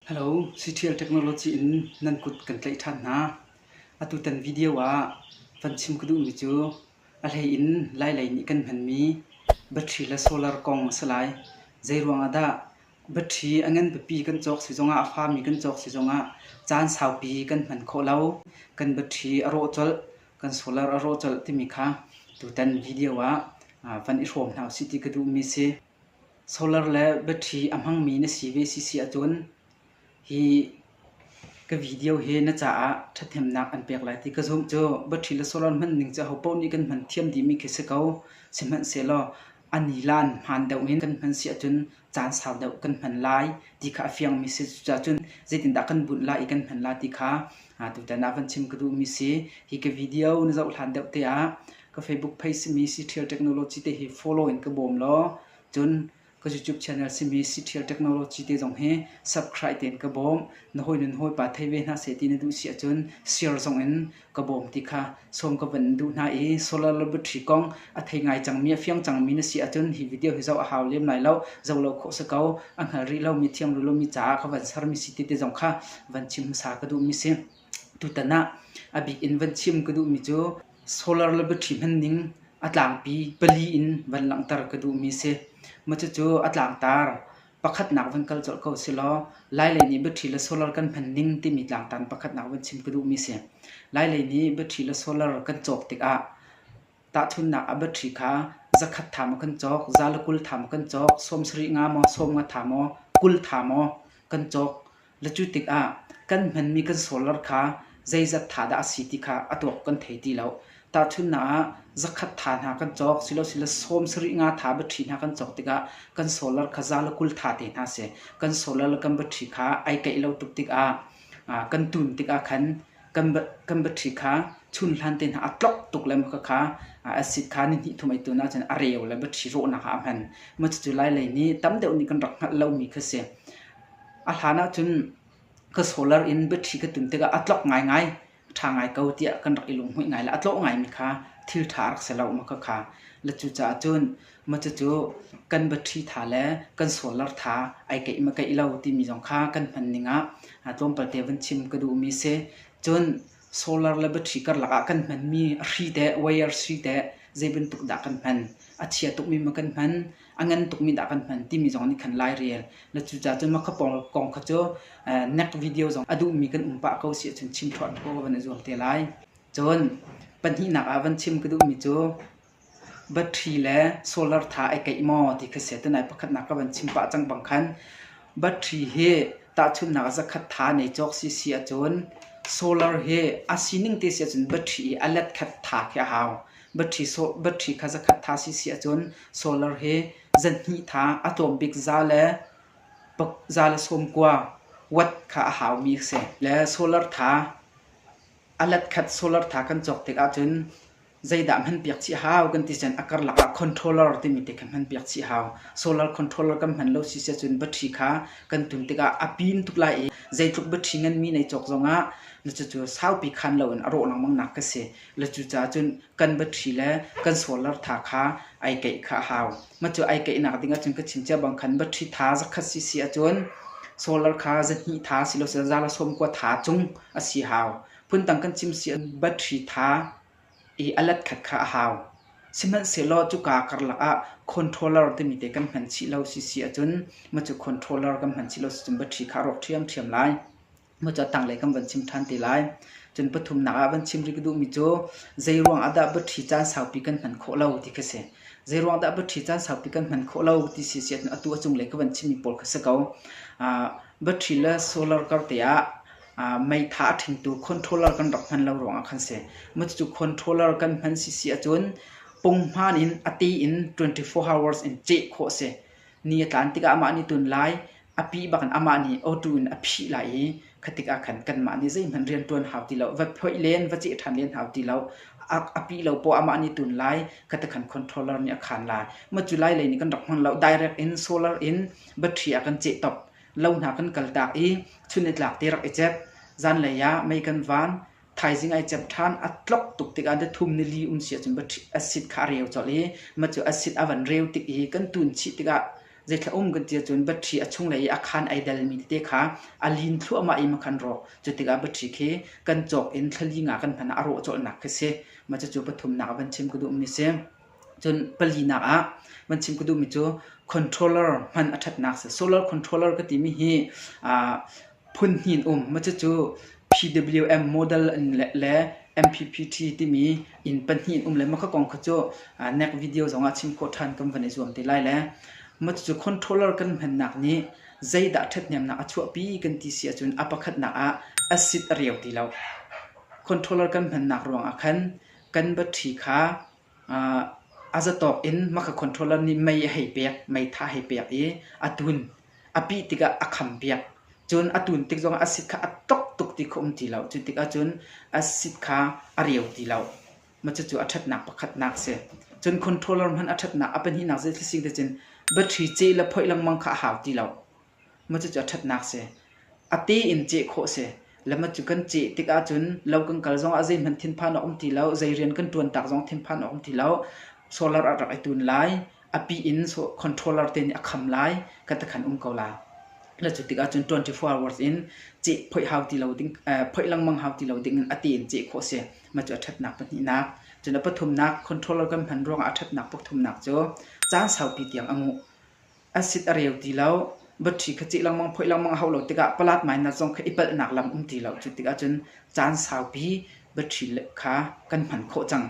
Hello, Citial Technology in nan kut kan tlaih ṭhan hna. Atutan video ah van chim ka duhmi cu a hlei in lailei nih kan hmanmi battery le solar kong a si lai. Zeiruang ah dah battery a ngan biapi kan cawk si zongah, a fami kan cawk si zongah caan saupi kan hman khawh lo. Kan battery a rawh colh, kan solar a rawh colh timi kha tutan video ah van i hrawm hna usih ti ka duhmi a si. Solar le battery a hmangmi na si ve si si ahcun hi ka video hi na caah ṭhathnemnak an pek lai ti ka zumh cu. Battery le solar hman ning cu ahopaoh nih kan hman thiam dihmi khi si ko. Sihmanhsehlaw a nilan hmaan deuh in kan hman si ahcun caan sau deuh kan hman lai ti kha a fiangmi si cucaah cun zeitindah kan bunh lai i kan hman lai ti kha tutan ah van chim ka duhmi si. Hi ka video na zoh hlan deuh te ah ka Facebook page simi Siṭhial Technology te hi follow in ka bawm law cun ka YouTube channel simi Siṭhial Technology te zong hi subscribe tein ka bawm na hawi nun hawi pa thei ve hna se ti na duh si ahcun share zong in ka bawm ti kha sawm ka van duh hna i solar laboratory kong a thei ngai cangmi a fiang cangmi na si ahcun hi video hi zoh a hau lem lai lo zoh lo khawh si ko a hngal rih lomi thiam rih lomi caah ka van sarmi si ti te zong kha van chim hmasa ka duhmi si Tutan ah a bik in van chim ka duhmi cu solar le battery hmanning a tlangpi pali in van langhter ka duhmi si. Cucu a tlangtar pakhatnak van kal colh ko silaw lailei nih battery le solar kan hmanning timi tlangtar pakhatnak van chim ka duhmi si. Lailei nih battery le solar kan cawk tikah Tahchunhnak a batṭhi kha zakhat ṭha maw kan cawk, za le kul ṭha maw kan cawk, sawm sarih nga maw, sawm nga ṭha maw, kul ṭha maw kan cawk. Le cu tikah kan hmanmi kan solar kha zeizat ṭha dah a si ti kha a tuak kan thei ti lo. Tahchunhnak ah zakhat ṭha hna kan cawk silosile sawm sarih nga ṭha batṭhi hna kan cawk tikah kan solar kha za le kul ṭha te hna a si. Kan solar le kan batṭhi kha ai keih lo tuk tikah kan tun tikah khan kan battery kha chun hlan te hna a tlok tuk le khakha acid kha ni hnih thum ei tu na cun a reu le battery rawhnak ah a hman ma cucu lai lei ni tam deuh nih kan rak hngalh lomi kha si a hlan ah cun ka solar in battery ka tun tikah a tlok ngaingai tha ngai ko tiah kan rak i lunghmuih ngai le a tlawh ngaimi kha thil tha rak si lo ma khakha la cu caah cun Cucu kan battery tha le kan solar tha ai keih ma keih lo timi zong kha kan hman ning ah tlawmpal te van chim ka duhmi si. Cun solar le battery karlak ah kan hmanmi a hri te, wire hri te zei bantuk dah kan hman? A chia tukmi ma kan hman? A ngan tukmi dah kan hman? timi zong nih khan lai rel. Na cucaah cun mah kong kha cu next video zong a duhmi kan um pah ko si ahcun chim thuah ko van i zuam te lai. Cun pahnihnak ah van chim ka duhmi cu Battery le solar tha ai keih maw ti kha si. Tunai pakhatnak ka van chim pah cang bang khan battery hi tahchunhnak ah zakhat tha nei cawk si si ahcun solar hi a sining te si ahcun battery i a let khat tha khi a hau. Battery so- battery kha zakhat tha si si ahcun solar hi zanhnih tha a tlawm bik za le pak za le sawm kua watt kha a haumi a si. Le solar tha a let khat solar tha kan cawk tik ahcun Zeidah hmanpiak chih a hau kan ti cun a karlak ah controller timi te kha hmanpiak chih a hau. Solar controller kan hman lo si sia cun battery kha kan tun tikah a pim tuk lai i zeitluk battery nganmi nai cawk zongah na cucu saupi khan loin a rawh lengmang nak ka si. Le cucaah cun kan battery le kan solar tha kha ai keih kha a hau. Macu ai keihnak ding ahcun ka chim cia bang khan battery tha zakhat si si ahcun solar kha zahnih tha si lo seh zala sawm kua tha cung a si hau. Phundang kan chim si an battery tha i a let khat kha a hau. Sihmanhsehlaw cuka karlak ah controller timi te kan hman chih lo sisi ahcun macu controller kan hman chih lo sicun battery kha a rawk ṭhiamṭhiam lai. Macu a tanglei kan van chim ṭhan te lai. Cun pathumnak ah van chim rih ka duhmi cu zeiruang ah dah battery caan saupi kan hman khawh lo ti khi a si. Zeiruang dah battery caan saupi kan hman khawh lo ti si si ahcun atu a cunglei ka van chimmi pawl kha si ko. Battery le solar kar te ah meitha a ṭhingtu controller kan rak hman lo ruangah khan si. Cucu controller kan hman si si ahcun punghman in a ti in 24 hours in ceh khawh si. Ni a tlan tikah amah nih tun lai, a pih bak in amah nih auto in a phih lai i khatikah khan kanmah nih zeihmanh rianṭuan hau ti lo, va phoih len, va ceh ṭhan len hau ti lo. A pih lo poah amah nih tun lai, khatikhan controller nih a khan lai. Cu lai lei nih kan rak hman lo. Direct in solar in battery a kan ceh top. lo hna kan kaltak i chun i tlak te rak i cep. Zanlei ah mei kan van, thaizing ai cep ṭhan, a tlok tuk tikah da thum ni li um si ahcun acid kha a reu colh i ma cu acid a van reu tik i kan tun chih tikah zeithla um kan ti ahcun battery a chunglei i a khan ai delmi tete kha a lin thluahmah i makhan rawh. Cu tikah battery khi kan cawk in thlali nga kan hman ah a rawh colhnak khi si. Ma cucu pathumnak ah van chim ka duhmi si. Cun palinak ah van chim ka duhmi cu controller hman a ṭhatnak si. Solar controller ka timi hi aa phun hnih in um. Cucu PWM model in le MPPT timi inn pahnih in um le mah ka kong kha cu next video zongah chim khawh ṭhan kan van i zuam te lai le. Cucu controller kan hmannak nih zeidah ṭhathnemnak a chuahpi kan ti si ahcun a pakhatnak ah acid a reu ti lo. Controller kan hmannak ruangah khan kan battery kha A zatawk in maka controller nih mei a hei pek, meitha hei pek i a tun. A pih tikah a kham piak. Cun a tun tik zongah a sit kha a tlok tuk ti kha um ti lo. Cu tikah cun a sit kha a reu ti lo. Cucu a ṭhatnak pakhatnak a si. Cun controller hmanh a ṭhatnak a pahnihnak zei thil si te cun battery ce le phoih lengmang kha a hau ti lo. Macucu a ṭhatnak si. A tein ceh khawh si. Le macu kan ceh tik ahcun lo kan kal zongah zeihmanh thinphan a um ti lo. Zei rian kan ṭuan tak zong thinphan a um ti lo. Solar a rak i tun lai. A pi in controller te nih a kham lai. Kan takhan um ko la. Le cu tik ahcun 24 hours in ceh phoih hau ti lo ding, phoih lengmang hau ti lo dingin a tein ceh khawh si. Macu a ṭhatnak pahnihnak. Cun a pathumnak controller kan hman ruangah a ṭhatnak pathumnak cu caan saupi tiang a nguh. Acid a reu ti lo. Batṭhi kha ceh lengmang, phoih lengmang a hauh lo tikah palat mainas zong kha i palhnak lam um ti lo. Cu tikah cun caan saupi batṭhi kha kan hman khawh cang.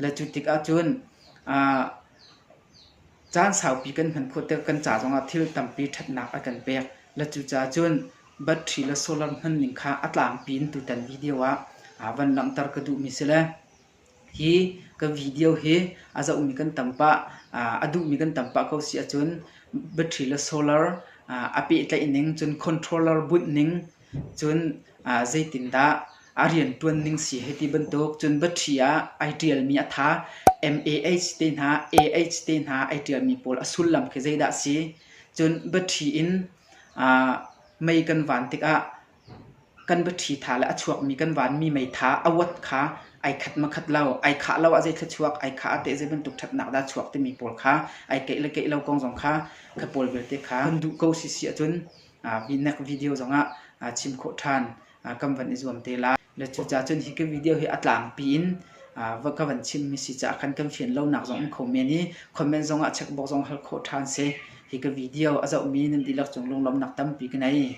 Le cu tikah cun aa caan saupi kan hman khawh tikah kan ca zongah thil tampi ṭhatnak a kan pek. Le cucaah cun batṭhi le solar hman ning kha a tlangpi in tutan video ah aa van langhter ka duhmi si le Hi ka video hi a zohmi kan tam pah, a duhmi kan tam pah ko si ahcun battery le solar a pehtlaih ning cun controller bunh ning cun zeitindah a rianṭuan ning si hei ti bantuk. Cun battery ah ai ṭialmi a ṭha. MAH te hna, AH te hna ai ṭialmi pawl a sullam khi zeidah a si? Cun battery in mei kan van tikah kan baṭhi ṭha le a chuakmi kan vanmi meitha a wat kha ai khat makhat lo, ai khah lo ah zei thluachuak, ai khah ah teh zei bantuk ṭhatnak dah a chuak timi pawl kha ai keih le keih lo kong zong kha ka pawl vialte kha kan duh ko sisi ahcun next video zongah chim khawh ṭhan kan van i zuam te lai. Le cucaah cun hi ka video hi a tlangpi in va ka van chimmi si caah khan kan fian lonak zong um kho men i comment zongah checkbox zong hal khawh ṭhan si. Hi ka video a zohmi nan dihlak cung lunglawmnak tampi ka nei.